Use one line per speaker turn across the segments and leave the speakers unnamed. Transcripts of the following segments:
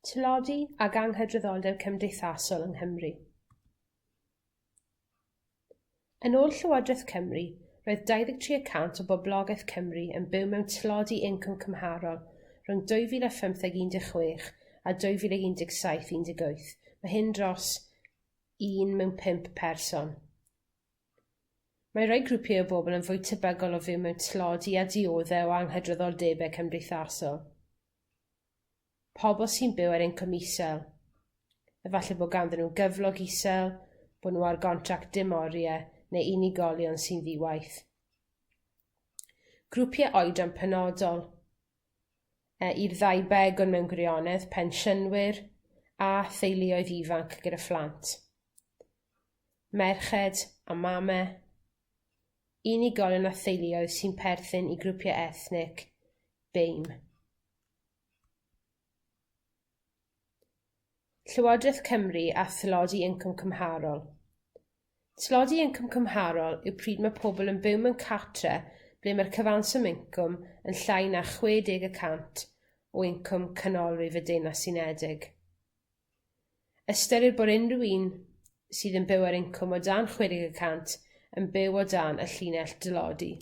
Tlodi ag anghydraddoldeb cymdeithasol yng Nghymru. Yn ôl Llywodraeth Cymru roedd dau ddeg tri y cant o boblogeth Cymru yn byw mewn tlodi incwm cymharol rhwng dwy fil a phymtheg un deg chwech a dwy fil ag un deg saith un deg wyth, ma' hyn dros un mewn pump person. Mae rhai grwpiau o bobl yn fwy tebygol o fyw mewn tlodi a diodde' o anghydraddoldebe cymdeithasol, pobol sy'n byw ar incwm isel, efalle bo' ganddyn nw gyflog isel, bo' nw ar gontract dim orie, neu unigolion sy'n ddi-waith. Grwpie oedran penodol, yy i'r ddau begwn mewn gwirionedd, pensiynwyr a theuluoedd ifanc gyda phlant. merched a mame, unigolion a theuluoedd sy'n perthyn i grwpie ethnig, BAME. Llywodreth Cymru a thlodi incwm cymharol. Tlodi incwm cymharol yw pryd ma' pobol yn byw mewn cartre ble ma'r cyfanswm incwm yn llai na chwe deg y cant o incwm canolrif y Deyrnas Unedig. Ystyrir bod unryw un sydd yn byw ar incwm o dan chwe deg y cant yn byw o dan y llinell dlodi.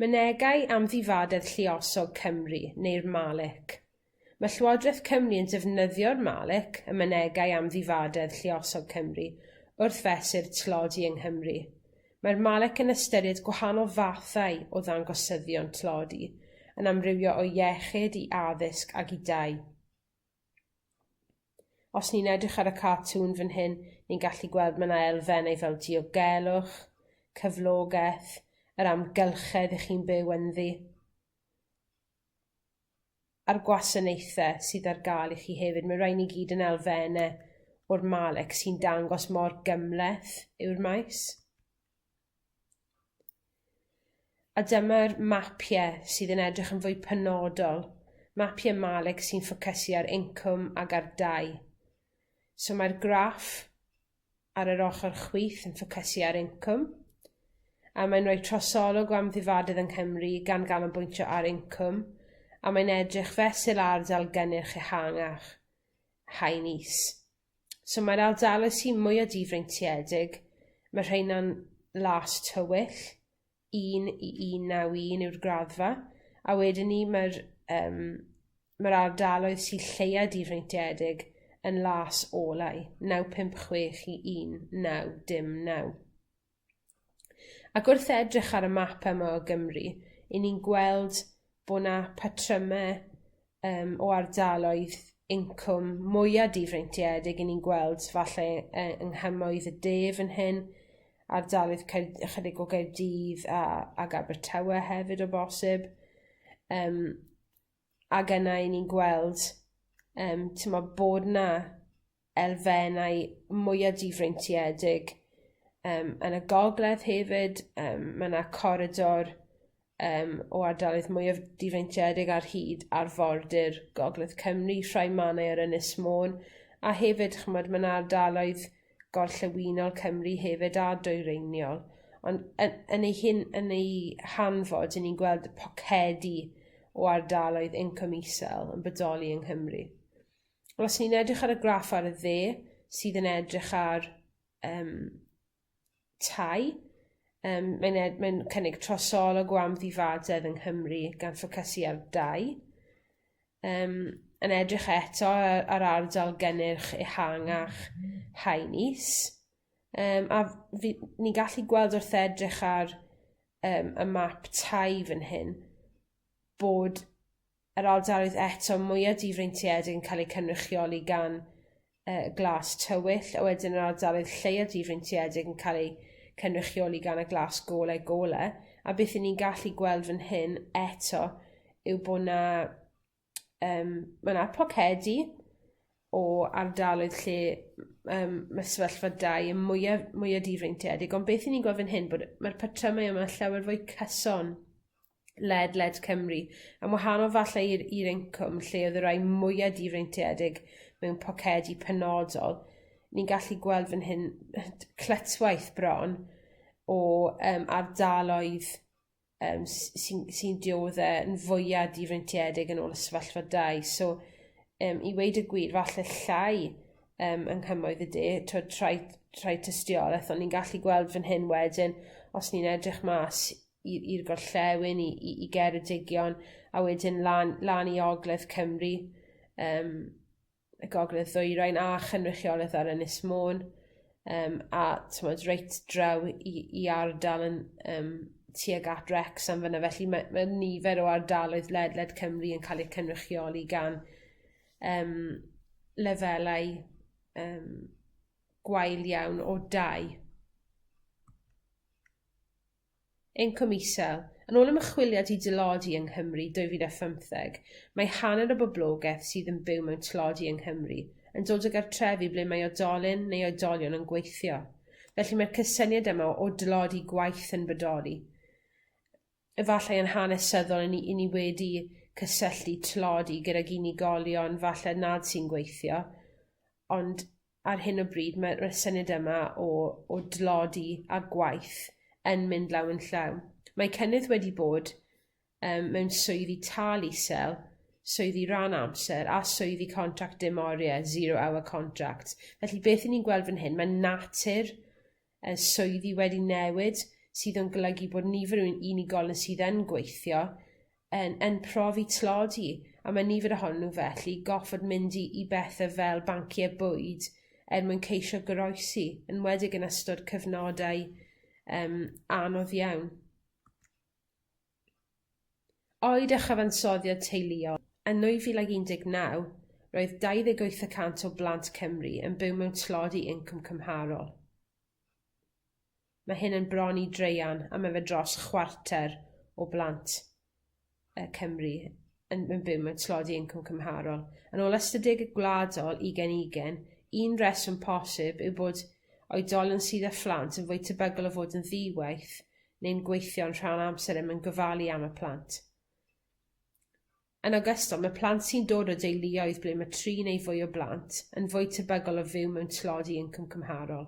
Mynegai amddifadedd lluosog Cymru neu'r MALIC ma' Llywodreth Cymru yn defnyddio'r MALIC, y Mynegai Amddifadedd Lluosog Cymru, wrth fesur tlodi yng Nghymru. Mae'r Malet yn ystyried gwahanol fathau o ddangosyddion tlodi yn amrywio o iechyd i addysg ag i dai. Os ni'n edrych ar y cartŵn fyn hyn, ni'n gallu gweld ma' 'na elfennau fel diogelwch, cyflogeth, yr amgylchedd 'ych chi'n byw ynddi. a'r gwasanaethe sydd ar ga'l i chi hefyd ma' rain i gyd yn elfenne o'r Malet sy'n dangos mor gymleth yw'r maes. A dyma'r mapie sydd yn edrych yn fwy penodol, mapie Malet sy'n ffocysu ar incwm ag ar dai. So mae'r graff ar yr ochor chwith yn ffocysu ar incwm, a mae'n roi trosolwg o amddifadedd yng Nghymru gan ganolbwyntio ar incwm a mae'n edrych fesul ar ardal gynnyrch ehangach, haen is. So mae'r ardaloedd sy mwya difreintiedig, ma' rheina'n las tywyll, un i un naw un yw'r graddfa a wedyn 'ny ma'r yym ma'r ardaloedd sy lleia difreintiedig yn las olau, naw pump chwech i un naw dim naw. Ac wrth edrych ar y mapa 'ma o Gymru, 'yn ni'n gweld bo' 'na patryme yym o ardaloedd incwm mwya difreintiedig, 'yn ni'n gweld falle yy yng nghymoedd y de fyn hyn ardaloedd Caer- ychydig o Gaerdydd a ag Abertawe hefyd o bosib yym ag yna 'yn ni'n gweld yym timod bod 'na elfennau mwya difreintiedig yym yn y gogledd hefyd yym ma' 'na coridor yym o ardaloedd mwyaf difreintiedig ar hyd arfordir Gogledd Cymru, rhai manau ar Ynys Môn a hefyd ch'mod ma' 'na ardaloedd gorllewinol Cymru hefyd a dwyreiniol on' yn yn ei hun yn ei hanfod 'yn ni'n gweld pocedi o ardaloedd incwm isel yn bodoli yng Nghymru. Wel os ni'n edrych ar y graff ar y dde sydd yn edrych ar yym tai yym mae'n ed- mae'n cynnig trosolwg o amddifadedd yng Nghymru gan ffocysu ar dai yym yn edrych eto yy ar ardal gynnyrch ehangach Haen Is yym a f- fi- ni'n gallu gweld wrth edrych ar yym y map tai fyn hyn bod yr ardaloedd eto mwya difreintiedig yn ca'l eu cynrychioli gan yy Glas Tywyll, a wedyn yr ardaloedd lleia difreintiedig yn ca'l eu cynrychioli gan y Glas Golau Golau, a beth 'yn ni'n gallu gweld fyn hyn eto yw bo' 'na yym ma' 'na pocedi o ardaloedd lle m- yym ma' sefyllfa dai yn mwya mwya difreintiedig, on' beth 'yn ni'n gweld fyn hyn bod y ma'r patrymau yma llawer fwy cyson. ledled Cymru yn wahanol falle i'r i'r incwm lle o'dd y rai mwya difreintiedig mewn pocedi penodol ni'n gallu gweld fyn hyn yy t- clytwaith bron o yym ardaloedd yym s- sy'n sy'n diodde' yn fwya difreintiedig yn ôl y sefyllfa dai so yym i weud y gwir falle llai yym yng nghymoedd y de t'od rhai rhai tystioleth on' ni'n gallu gweld fyn hyn wedyn os ni'n edrych mas i i'r gorllewin i i i Geredigion a wedyn lan lan i ogledd Cymru yym y gogledd ddwyrain a chynrychioleth ar Ynys Môn yym a t'mod reit draw i i ardal yn yym tuag at Wrecsam fyn 'na felly ma' ma' nifer o ardaloedd ledled Cymru yn ca'l eu cynrychioli gan yym lefelau yym gwael iawn o dai. Incwm isel, yn ôl ymchwiliad i dlodi yng Nghymru dwy fil a phymtheg mae hanner y boblogeth sydd yn byw mewn tlodi yng Nghymru yn dod o gartrefi ble mae oedolyn neu oedolion yn gweithio felly mae'r cysyniad yma o dlodi gwaith yn bodoli efallai yn hanesyddol 'yn ni 'yn ni wedi cysylltu tlodi gydag unigolion falle nad sy'n gweithio ond ar hyn o bryd ma' ma'r syniad yma o o dlodi a gwaith yn mynd law yn llaw mae cynnydd wedi bod yym mewn swyddi tâl isel, swyddi ran amser a swyddi contract dim orie, zero hour contract felly beth 'yn ni'n gweld fan hyn ma' natur y swyddi wedi newid sydd yn golygu bod nifer o un- unigolyn sydd yn gweithio yn yn profi tlodi a ma' nifer ohonyn nw felly goffod mynd i i bethe fel bancie bwyd er mwyn ceisio goroesi, enwedig yn ystod cyfnodau yym anodd iawn. Oed a chyfansoddiad teuluol, yn 2019, roedd 28 y cant o blant Cymru yn byw mewn tlodi incwm cymharol, ma' hyn yn bron i draean a ma' fe dros chwarter o blant yy Cymru. yn yn byw mewn tlodi incwm cymharol yn ôl ystadege gwladol ugen ugen un reswm posib yw bod oedolyn sydd â phlant yn fwy tebygol o fod yn ddi-waith neu'n gweithio'n rhan amser er mwyn gofalu am y plant. Yn ogystal ma' plant sy'n dod o deuluoedd ble ma' tri neu fwy o blant yn fwy tebygol o fyw mewn tlodi incwm cymharol.